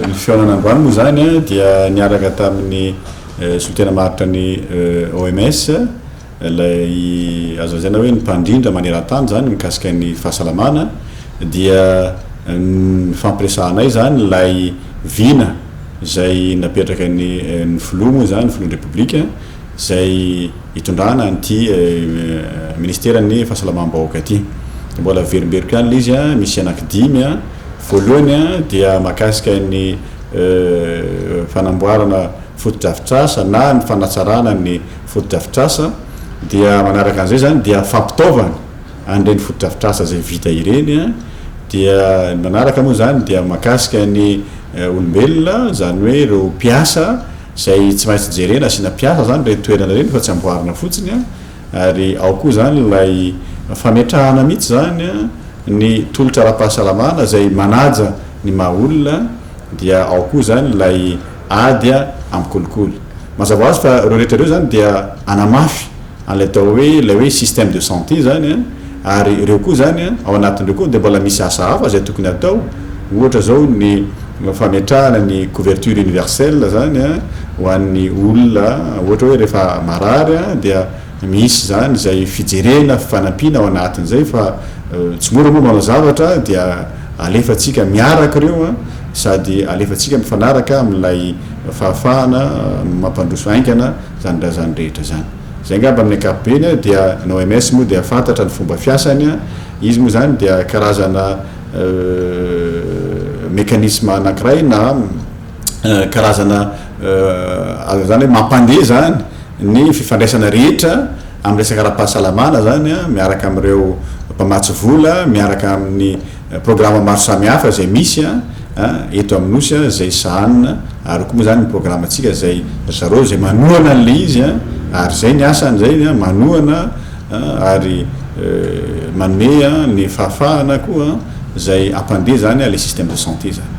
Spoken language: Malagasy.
Ny fihaonana androany moa izany dia niaraka tamin'ny eh, solotena maharitra ny eh, OMS ilay azo lazaina hoe ny mpandrindra maneran-tany izany mikasika ny fahasalamana dia eh, nifampiresahanay izany ilay vina izay napetraka ny eh, ny filoha moa izany ny filohan'ny repoblika izay itondrana an'ity Ministeran'ny fahasalamam-bahoaka ity. Dia mbola averimberiko ihany ilay izy, misy anankidimy. Voalohany dia mahakasika ny fanamboarana fotodrafitrasa na ny fanatsarana ny fotodrafitrasa. Dia manaraka an'izay izany dia fampitaovana an'ireny fotodrafitrasa izay vita ireny. Dia ny manaraka moa izany dia mahakasika ny olombelona, izany hoe ireo mpiasa. Izay tsy maintsy jerena asiana mpiasa izany ireny toerana ireny fa tsy amboarina fotsiny an, ary ao koa izany ilay fametrahana mihitsy izany an ny tolotra ara-pahasalamana izay manaja ny maha olona dia ao koa izany ilay ady amin'ny kolikoly. Mazava ho azy fa ireo rehetra ireo izany dia hanamafy an'ilay atao hoe ilay hoe système de santé izany an, ary ireo koa izany an, ao anatin'ireo koa dia mbola misy asa hafa izay tokony hatao, ohatra izao ny fametrahana ny couverture universelle izany an, ho an'ny olona ohatra hoe rehefa marary an, dia misy izany izay fijerena fanampiana ao anatin'izay fa tsy mora moa manao zavatra dia alefantsika miaraka ireo an, sady alefantsika mifanaraka amin'ilay fahafahana mampandroso haingana zany raha zany rehetra zany. Zay ngamba amin'ny ankapobeny a, dia ny OMS moa dia fantatra ny fomba fiasany a, izy moa zany dia karazana mécanisme anankiray na karazana azo zany hoe mampandeha zany ny fifandraisana rehetra amin'ny resaka ara-pahasalamana zany a, miaraka amin'ireo mpamatsy vola, miaraka amin'ny Programa maro samihafa izay misy eto amin'ny Nosy izay sahanina ary koa moa izany ny programantsika izay ry zareo izay manohana an'ilay izy ary izay ny asany izay ny manohana ary manome ny fahafahana koa izay hampandeha izany ilay système de santé izany.